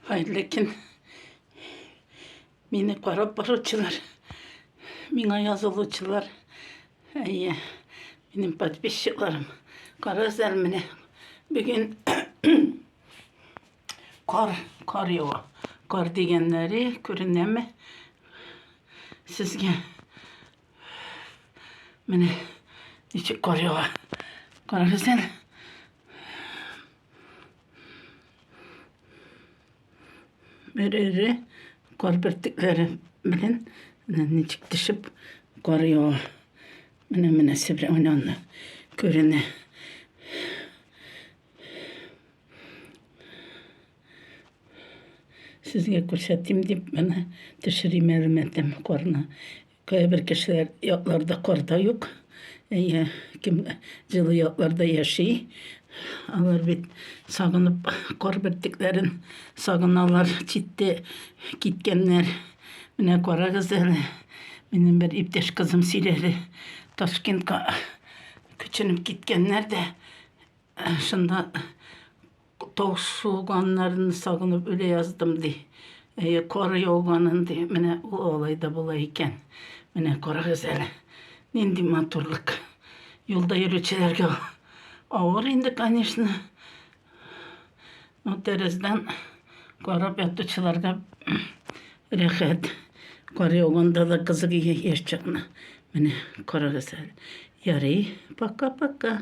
Хәерле көн. Мине карап баручылар, миңа язылучылар, әйе, минем подписчикларым. Карасәр менә бүген кар, кар ява. Кар дигәннәре күренәме? Сезгә менә ничек кар ява. Карагыз әле. Берәре кар бөртекләре белән менә ничек төшеп кар ява. Менә менә сибре уйнанды. Күренә. Сезгә күрсәтим дип менә төшерим әле мәтәм карны. Кайбер кешеләр якларда карта юк. Әйе, кем җылы якларда яши, алар бит сагынып кар бөртекләрен сагыналар, читтә киткәннәр. Менә карагыз әле, минем бер иптәш кызым сөйләде, Ташкентка күченеп киткәннәр дә, шунда Тау суганнарын сагынып үлә яздым, ди. Әйе, кар яуганын, ди. Менә ул алай да була икән. Менә карагыз әле, нинди матурлык. Юлда йөрүчеләргә авыр инде, конечно. Но тәрәздән карап ятучыларга рәхәт. Кар яуганда да кызык яшь чакны. Менә карагыз әле. Ярый, пока-пока.